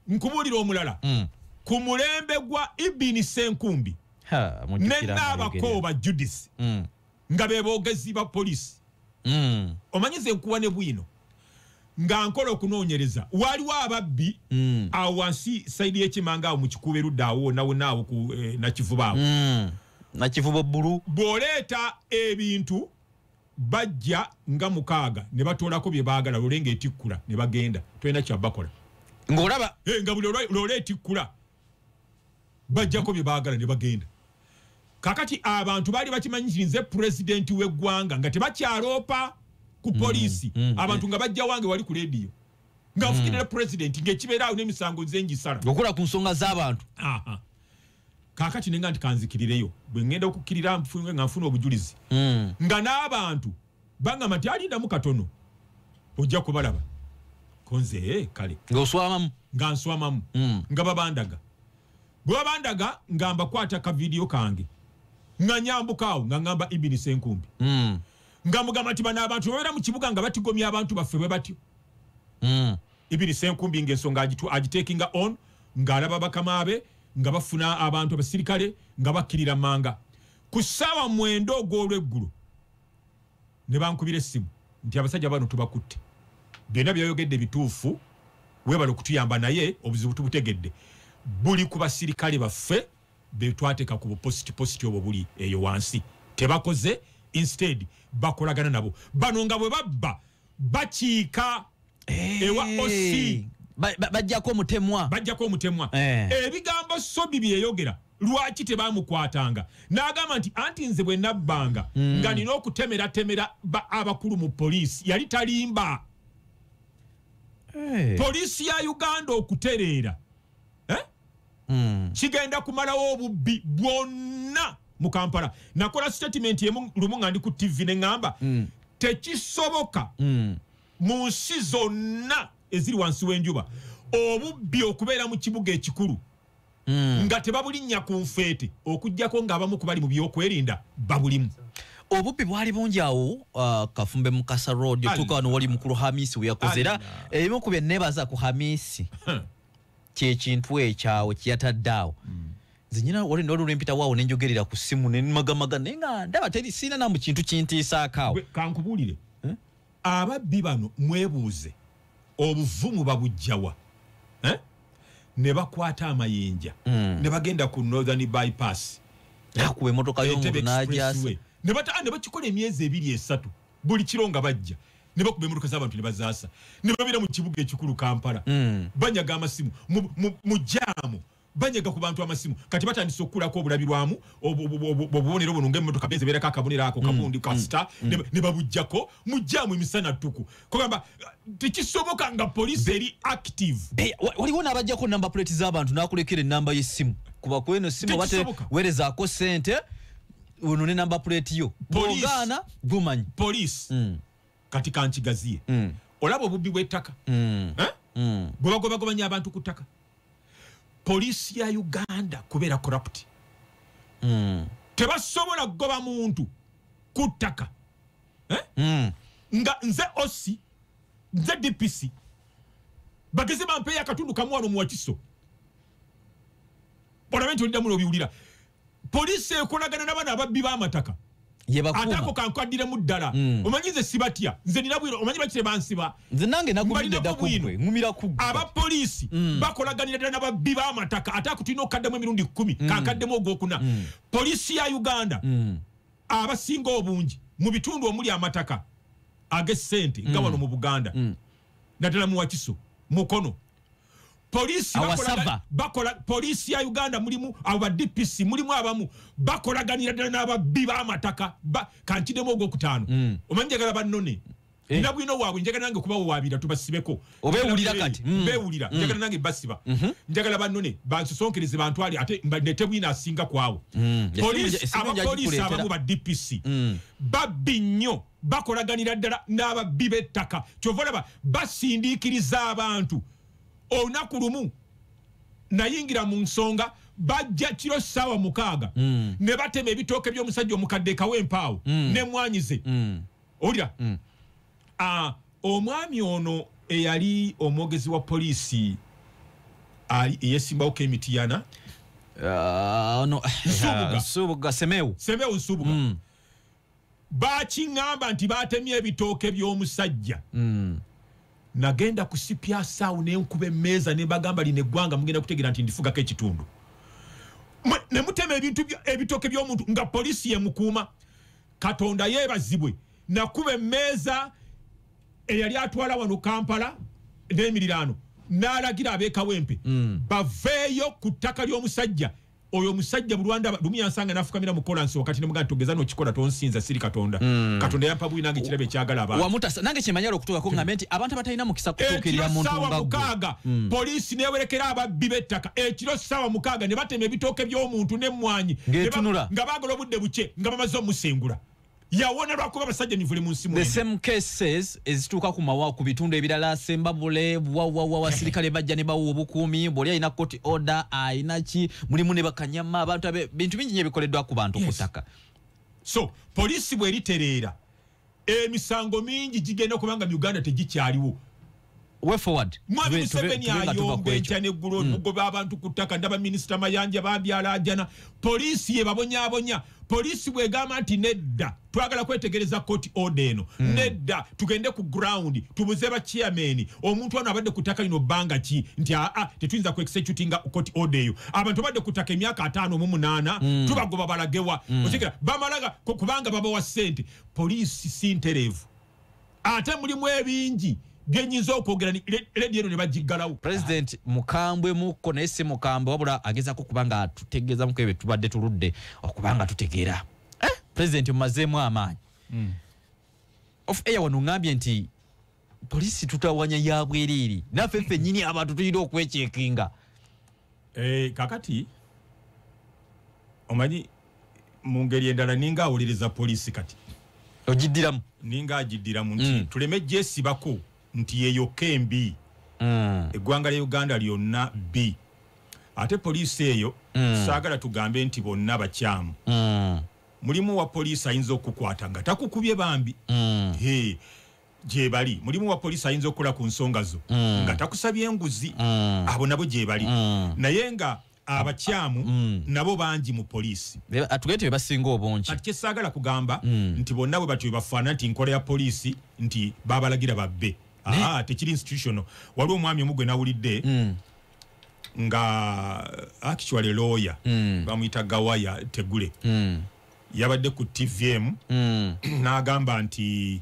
nkubuulira omulala Mm. ku mulembe gwa ibini senkumbi Ha, mujjukira ne nga naabakooba judisi ayogera. Mm. nga be boogezi ba poliisi mm. omanyi ze nkuwa ne bwino nga nkola okunoonyereza waliwo ababbi mm. awo wansi saidi y'ekimanga awo mu kikuuba erudda awo wonawona awo ku eh, nakivuba awo mm. nakivuba bbulu bw'oleeta ebintu bajja nga mukaaga ne batoolako bye baagala lole nga etikkula ne bagenda tolina kyabakola ng'olaba hey, eh, nga buli lole etikkula bajjako bye baagala ne bagenda kakati abantu baali bakimanyi nti nze pulezidenti w'eggwanga nga tebakyaloopa ku mm, poliisi mm, mm. abantu nga bajja wange wali ku leediyo nga nfukirira pulezidenti ngaekibeeraawo n'emisango nze ngisala okula ku nsonga z'abantu kakati nenga nti kanzikirireyo bwe ŋŋenda okukkirira nfunge nga nfuna obujulizi nga n'abantu bangamba nti alindamu katono ojja kubalaba konze eh, kale ngaoswamamu nga nswamamu hmm. nga babandaga bwe babandaga nga mbakwata kavidiyo kange nga nyambukaawo nga ngamba ibini senkumbi hmm. nga mugamba nti bano abantu babeera mu kibuga nga batigomya abantu baffe bwe batyo hmm. ibini senkumbi ngaensonga agitekinga on ng'alaba bakama be nga bafuna abantu abasirikale nga bakkirira manga ku ssaawa mwenda ogw'olweggulo ne bankubira essimu nti abasajja bano tubakutte byonna byayogedde bituufu webale okutuyamba naye obuzibu tubutegedde buli ku basirikale baffe betwateeka ku bupositipositi obwo buli eyo wansi tebakoze instead bakolagana nabo bano nga bwe babba bakiika eh. ewa osi bajjako omutemwa bajjako omutemwa eh. ebigambo sobi byeyogera lwaki tebamukwatanga n'agamba nti anti nze bwe nabbanga hmm. nga nina okutemeratemera abakulu mu poliisi yali talimba eh. poliisi ya uganda okutereera mm. kigenda kumalawo obubbi bwonna mu kampala nakola statement emu lumu nga ndi ku tv ne ŋŋamba mm. tekisoboka mm. mu nsi zonna eziri wansi w'enjuba obubbi okubeera mu kibuga ekikulu mm. nga tebabulinnya ku nfeete okugyako ng'abamu ku bali mu byokwerinda babulimu obubbi bwali bungi awo uh, kafumbe mukasa road otuuka wano wali mukulu hamisi weyakoze era ebimu ku bye nebaza ku hamisi kyekintu ekyawo kyeyatadde awo mm. nze nyina wali nolwo lwempita waawo nenjogerera ku simu nenmagamaga naye nga ndaba teri siina namu kintu kintiisaakaawo kankubuulire eh? ababbi bano mwebuuze obuvumu babujjawa eh? ne bakwata amayinja mm. ne bagenda ku northern bypass nakuba emotoka yomuntu najasa ne bakikola emyezi ebiri esatu buli kiro nga bajja ne bakuba emmotoka z'abantu ne bazaasa ne babeera mu kibuga ekikulu kampala mm. banyaga amasimu mu jaamu banyaga ku bantu amasimu kati batandise okukulako obulabirwamu obubonero buno ngaemmotoka benze beerako akabonero ako mm. kabundi kasita mm. mm. ne babujjako mu jaamu emisana ttuku kugamba tekisoboka nga poliisi eri active eh, waliwo n'abajjako namba puleti z'abantu n'akulekera ennamba y'essimu kuba kweno essimu batewerezaako ssente ono ne namba puleti yo bwogaana gumanyi poliisi mm. kati kankigaziye mm. olaba obubbi bw'ettaka mm. eh? mm. bwe bagobagobanya abantu ku ttaka poliisi ya uganda kubeera corrupt mm. tebasobola kugoba muntu ku ttaka eh? mm. nga nze osi nze dpc bageze bampeeyo akatundu kamu wano mu wakiso olabe nti oliddamu nobiwulira poliisi ekolagana nabano ababbi b'amataka ate ako kankwaddiramu ddala mm. omanyi nze sibatya nze nina bwino omanyi bakire bansiba nze nange nagumiddeko bwino ngumira ku aba poliisi mm. bakolaganira ddala nababbi b'amataka ate ako tulina okukaddamu emirundi kkumi mm. kankaddemu ogwokuna mm. poliisi ya uganda mm. abasinga obungi mu bitundu omuli amataka ag'essente nga mm. wano mu buganda mm. naddala mu wakiso mukono polisi awasava bakola polisi ya uganda mulimu abo ba dpc mulimu abamu bakolaganira ddala n'ababbi b'amataka kankidemu ogwokutaano mm. omanyi njagala bannone eh. nina bwino waabwe njagala nange kubawo waabira tubasibeko obewulira kati mm. bewulira mm. njagala nange basiba mm-hmm. njagala bannone bansosonkereze bantwale ate nete bwino asinga kwawo abapolisi abamu ba dpc babbi nnyo bakolaganira ddala n'ababbi b'ettaka kyova olaba basindiikiriza abantu olunaku lumu nayingira mu nsonga bajja kiro ssaawa mukaaga mm. ne batema ebitooke by'omusajja omukadde ekawa empaawo mm. nemwanyize mm. olira mm. ah, omwami ono eyali omwogezi wa poliisi eyesimbawoko emitiyana ah, ono eh, subuga semeu semeu subuga mm. bakiŋŋamba nti baatemye ebitooke by'omusajja mm. nagenda ku sipyasaawo ne nkuba emmeeza ne bagamba lino eggwanga mugenda kutegeera nti ndifugako ekitundu ne mutema ebintu ebitooke by'omuntu nga poliisi yemukuuma katonda yeebazibwe nakuba emmeeza eyali atwala wano kampala n'emiriraano n'alagira abeekawempe mm. baveeyo ku ttaka ly'omusajja oyo omusajja bulwandaba lumu yansanga nafukamira mukola nsi wakati nemugana togeza nokikola tonsinza siri katonda mm. katonda yampa buli nange ekirabo ekyagala abawamutasa nange kyemanyala okutuukako hmm. ngambe nti abantu abatalina mukisa kutuukirira muntu nga gwe mukaaga mm. poliisi newerekera ababbi b'ettaka ekiro ssaawa mukaaga ne batema ebitooke by'omuntu n'emmwanyi nga bagala obudde bukye nga bamaze omusengula yawona lwakuba abasajja nyivule mu nsi the same cases ezituuka ku mawa ku bitundu ebirala sembabule wawawa wasirikale bajja ne bawa obukuumi bwoli alina koti order alina ki mulimu ne bakanyama abantu abe bintu bingi nyo ebikoleddwa ku bantu ku ttaka so poliisi bweritereera emisango mingi gigenda kubanga mu uganda tegikyaliwo way forward mwami museveni ayomba enkya neggulo hmm. mugoba abantu ku ttaka ndaba minisita mayanja babyalajana poliisi yebabonyabonya poliisi bwegamba nti nedda twagala kwetegereza koti oda eno hmm. nedda tugende ku ground tubuze bachairmani omuntu ano abadde ku ttaka lino bbanga ki nti aa tetuyinza ku executinga koti oda eyo abantu abadde ku ttaka emyaka ataano mu munaana hmm. tubagoba balagewa okigira bamalaga kubanga babawa ssente poliisi si ntereevu ate mulimu ebingi byenyinza okwogera ledi eno ne bagiggalawo president mukambwe mukko naye si mukambwe wabula agezako kuba nga tutegeezamuko ebyo tubadde tuludde okuba nga tutegeera eh, president mumazeemu amaanyi hmm. of air wano ngambye nti polisi tutawanya ya bwereere naffe ffe nyini abantu tulina okwekyekinga eh, kakati omanyi mu ngeri endala ninga awolereza poliisi kati ogiddiramu ninga agiddiramu nti mm. tuleme gyesibako nti yeyokka embi mm. eggwanga lya uganda lyonna bbi ate poliisi eyo mm. saagala tugambe nti bonna bakyamu mm. mulimu wa poliisi ayinza okukwata nga takukubye bambi mm. hey. gyebali mulimu wa poliisi ayinza okukola ku nsonga zo mm. nga takusabye enguzi mm. abo nabo gyebali mm. naye nga abakyamu mm. nabo bangi mu poliisi atugee nti bebasinga obungi kati kyesaagala kugamba mm. nti bonna bwe batyo bebafaanana nti nkola ya poliisi nti babalagira babbe aa tekiri institutional waliwo omwami omu gwe nawulidde mm. nga actually lawyer mm. bamuyita gawaya tegule mm. yabadde ku tvm mm. n'agamba nti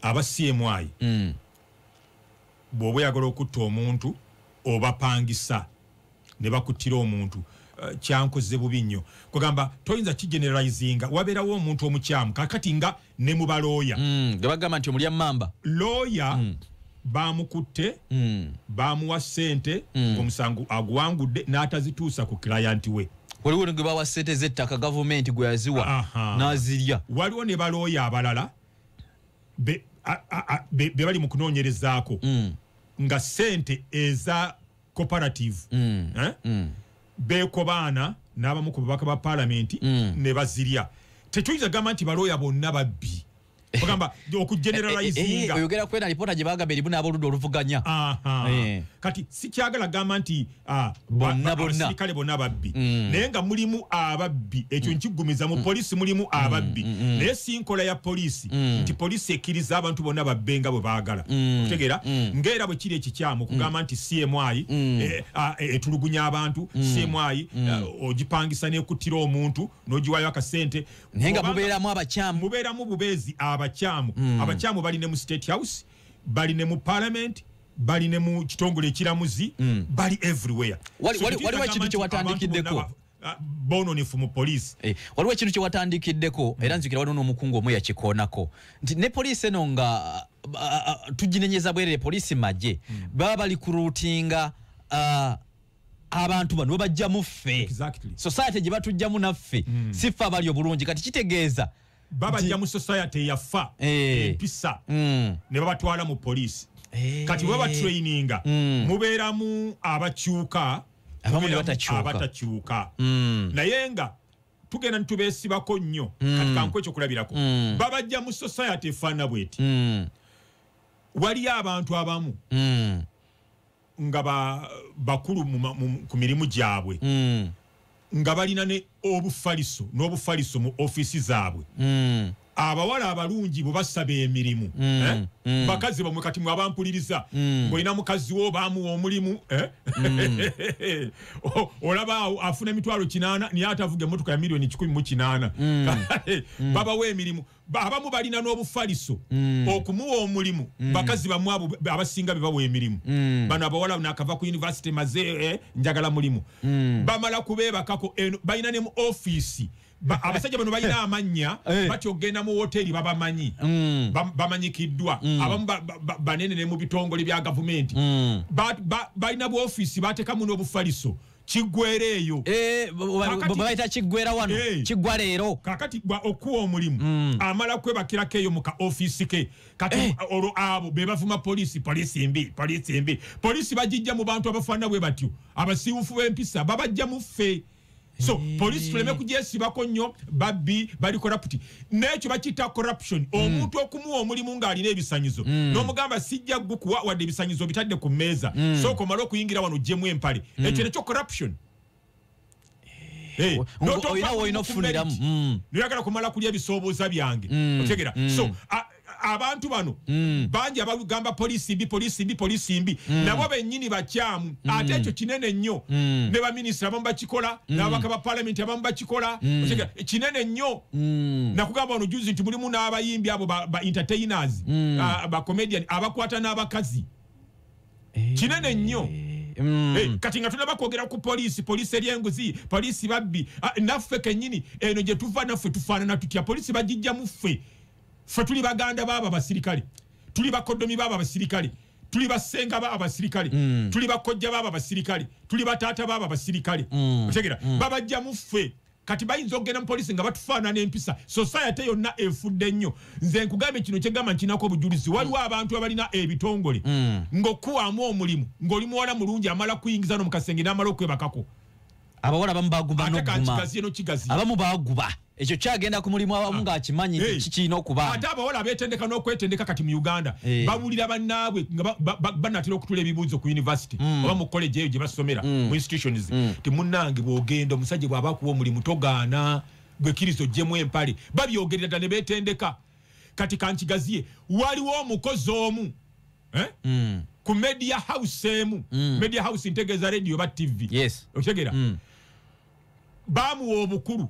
aba cmi mm. bw'oba oyagala okutta omuntu obapangisa ne bakuttira omuntu eh, kyankoze bubi nnyo kwegamba toyinza kigeneralizinga wabeerawo omuntu omukyamu kakati nga ne mu balooya mm, ge bagamba nti omulya mamba looya mm. bamukutte mm. bamuwa ssente omusango aguwangudde n'atazituusa ku kilayanti we waliwo ne gwe bawa ssente z'ettaka gavumenti gwe yaziwa n'azirya waliwo ne balooya abalala be bali mu kunoonyerezaako mm. nga sente eza cooperative mm. Eh? Mm. beekobaana n'abamu ku babaka ba palamenti mm. ne bazirya tetuyinza gamba nti balooya bonna babbi ogamba okugeneralizingaoyogera eh, eh, eh, kwena lipoota gye bagamba erimu n'aboludda oluvuganya kati sikyagala gamba nti Ah, bonna bonna kale bonna babbi mm. naye nga mulimu ababbi ekyo mm. nkigumiza mu mm. polisi mulimu ababbi naye sinkola ya polisi nti polisi ekiriza abantu bonna babbe nga bwe baagala okutegeera ngaera bwe kiri ekikyamu okugamba nti cmi eh, ah, eh, etulugunya abantu cmi eh, ogipangisa nekuttira omuntu nogiwayo akasente naye nga mubeeramu abakyamu mubeeramu bubeezi abakyamu abakyamu bali ne mu state house bali ne mu palamenti bali ne mu kitongole ekiramuzi mm. bali everywhere waliwo ekintu kyewatandikiddeko ah, bononefu mu poliisi eh, waliwo ekintu kyewatandikiddeko mm. era nzikira waliwo n'omukungu omu yakikoonako nti ne poliisi eno nga ah, ah, tuginenyeza bwerere poliisi magye mm. baba bali kuruutinga abantu bano bwebajjamu ffe society gye batujjamu naffe mm. si ffe abali obulungi kati kitegeeza babajja mu society eyafa eh. empisa mm. ne babatwala mu poliisi eh. kati bwe babatraininga mm. mubeeramu abakyuka abatakyuka mm. naye nga tugenda nitubeesibako nnyo kati kanku ekyokulabirako babajja mu society efaana bweti waliyo abantu abamu nga ba- bakulu mu ma- mu- ku mirimu gyabwe Mm. nga balina ne obufaliso n'obufaliso mu ofiisi zaabwe Mm. abawala abalungi bwe basaba emirimu Mm, eh? mm. bakazi bamwe kati mwe abampuliriza Mm. ng'olina mukazi wo baamuwa omulimu eh? O- olaba awo afuna emitwalo kinaana naye atavuga emmotoka ya miliyoni kikumi mu kinaana babawa emirimu abamu balina n'obufaliso mm. okumuwa omulimu mm. bakazi bamu abo abasinga bebawa emirimu mm. bano abawala nakava ku univesity maze eh, njagala mulimu mm. bamala kubebakako eh, balina ne mu ofiisi abasajja bano balina eh. amannya eh. batya okugenda mu woteri babamanyi mm. bamanyikiddwa mm. abamu banene ne mu bitongole bya gavumenti mm. balina buofiisi batekamu n'obufaliso kiggwera eyo eh, bayita kiggwera wano eh. kiggwa leero kakati okuwa omulimu mm. amala kwebakirako eyo mu ka ofisi ke kati eh. olwo abo be bavuma poliisi poliisi mbi poliisi mbi poliisi bagijja mu bantu abafaanana bwe batyo abasiiwufu b'empisa babajja mu ffe so poliisi tuleme kugyesibako nnyo babbi bali koraputi nekyo bakiyita corruption mm. omuntu okumuwa omulimu ng'alina ebisanyizo mm. n'omugamba sijja gukuwa wadde ebisanyizo obitadde ku mmeeza mm. sooka omale okuyingira wano ojjemu empale mm. ekyo nekyo corruption oyina woyina okufuniramu noyagala kumala kulya ebisooboza byange otegera so abantu bano mm. bangi abagamba poliisi mbi poliisi mbi poliisi mbi mm. nabo bennyini bakyamu mm. ate ekyo kinene nnyo mm. ne baminisita abamu bakikola mm. n'ababaka ba palamenti abamu bakikola mm. kinene nnyo mm. nakugamba wano juzi nti mulimu n'abayimbi abo ba, ba entertainers mm. uh, bacomedian abakwata n'abakazi hey. Eh. kinene nnyo hey. Mm. Hey, kati nga tunaba kwogera ku poliisi poliisi eryenguzi poliisi babbi ah, naffe kenyini eno gye tuva naffe tufaanana tutya poliisi bagijja mu ffe ffe tuli baganda baabo abasirikale tuli bakodomi baabo abasirikale tuli basenga baabo abasirikale mm. tuli bakojja baabo abasirikale tuli bataata baabo abasirikale mm. otegera mm. babajja mu ffe kati bayinza okugenda mu polisi nga batufaanana empisa sosayate yonna efudde nnyo nze nkugambye kino kyegamba nkinako obujulizi waliwo abantu abalina ebitongole mm. ng'okuwaamu omulimu ng'oli muwala mulungi amala kuyingiza no mu kasenge n'amala okwebakako abawala abamu baguba ate ka noguma kigaziye no kigaziye abamu baguba ekyo kyagenda ku mulimu abamu ng'akimanyi nti Hey. kikirina okuba ate abawala betendeka n'okwetendeka kati mu uganda Eh. babulira bannaabwe nga ba- ba- ba- banatera okutula ebibuuzo ku university Mm. oba mu college eyo gye basomera mu institutions ti munnange bw'ogenda omusajja bw'aba akuwa omulimu togaana gwe kirisito ojjemu empale babyogerera dda ne betendeka kati kankigaziye waliwo omukozi omu eh? mm. ku media house emu mm. media house ntegeeza radio ba tv yes. okitegeera mm. bamuwa obukulu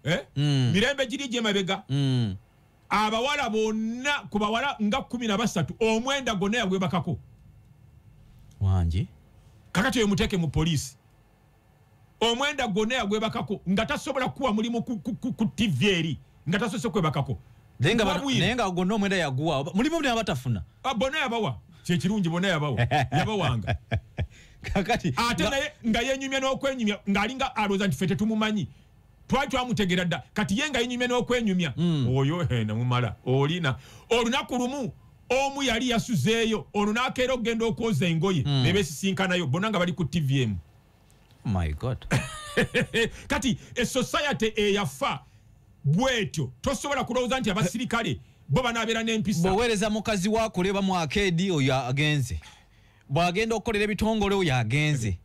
eh? mm. mirembe giri gyemabega mm. abawala bonna ku bawala nga kumi na basatu omwenda gonna yagwebakako wangi kakati oyo muteeke mu poliisi omwenda gwonna yagwebakako nga tasobola kukuwa mulimu ku ttivi eri nga tasose kwebakako naye nga gwonna omwenda yaguwa mulimu buli abatafuna ah, bona yabawa kyekirungi bona yabawa yabawanga kakati ate naye nga yenyumya n'okwenyumya ng'alinga alooza nti fe tetumumanyi twali twamutegera dda kati ye nga yenyumya n'okwenyumya hmm. oyo namumala olina olunaku lumu omu yali yasuzeeyo ono nakeera okugenda okwoza engoye mm. nebesisinkanayo bona nga bali ku tvm my god kati esociety eyafa bwetyo tosobola kulowooza nti abasirikale bo banabeera nempisa boweereza mukazi wakuleba mu akeedi oyo agenze bwagenda okukolera ebitongole oyo agenze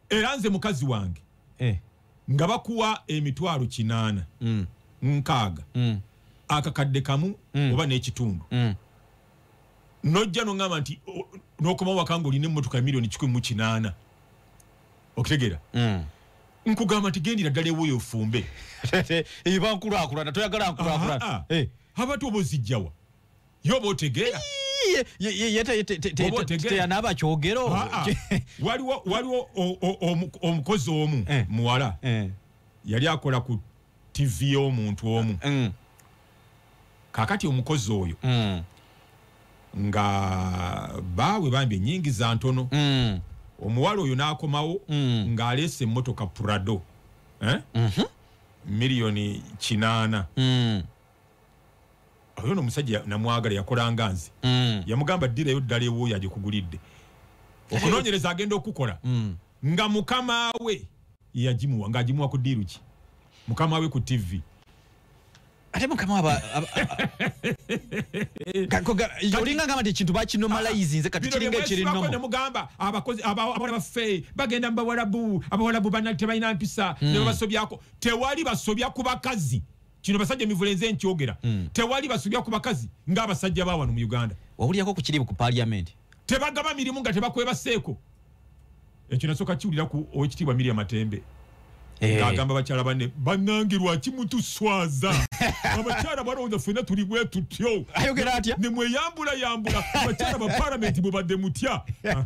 era nze mukazi wange eh. nga bakuwa emitwalo kinaana mm. nkaaga mm. akakadde kamu mm. oba n'ekitundu mm. nojja noŋamba nti n'okomawo waka nga olina emmotoka ya miliyoni kikumi mu kinaana okitegeera mm. nkugamba nti gendira ddala ewoyo ofumbe ebankulakulana toyagala nkulakulana eh. abati oba ozijjawa yoba otegeera teyanaba kyogero ah, ah. waliwo waliwo omukozi omu eh. muwala eh. yali akola ku tv y'omuntu omu mm. kakati omukozi oyo mm. nga baawe bambi enyingiza ntono mm. omuwala oyo n'akomawo ng'aleesa emmotoka prado eh? mhm. miliyoni kinaana oyo no musajja namwagala yakolanga nze mm. yamugamba dirayo ddala ewuyo agikugulidde okunonyereza agenda okukola mm. nga mukama we yagimuwa nga agimuwa ku diiru ki mukama we ku tv ate mukama aba olinga ngamba nti ekintu bakinomalayizinze kati kiringa ekirinomugamba abakozi abawala baffe bagenda mu bawalabu abawalabu banali tebalina mpisa hmm. nebabasobyako tewali basobya ku bakazi kino basajja emivule nze nkyogera mm. tewali basubya ku bakazi ng'abasajja bawano mu uganda wawulirako ku kiribu ku paliament tebagaba mirimu nga tebakwebaseeko ekyo nasoka kiwulira ku owekitiibwa miria matembe eh. agamba bakyala bane banange lwaki mutuswaza abakyala balowooza fena tuli bwe tutyo nemweyambulayambula abakyala ba palamenti bwebadde mutya ah,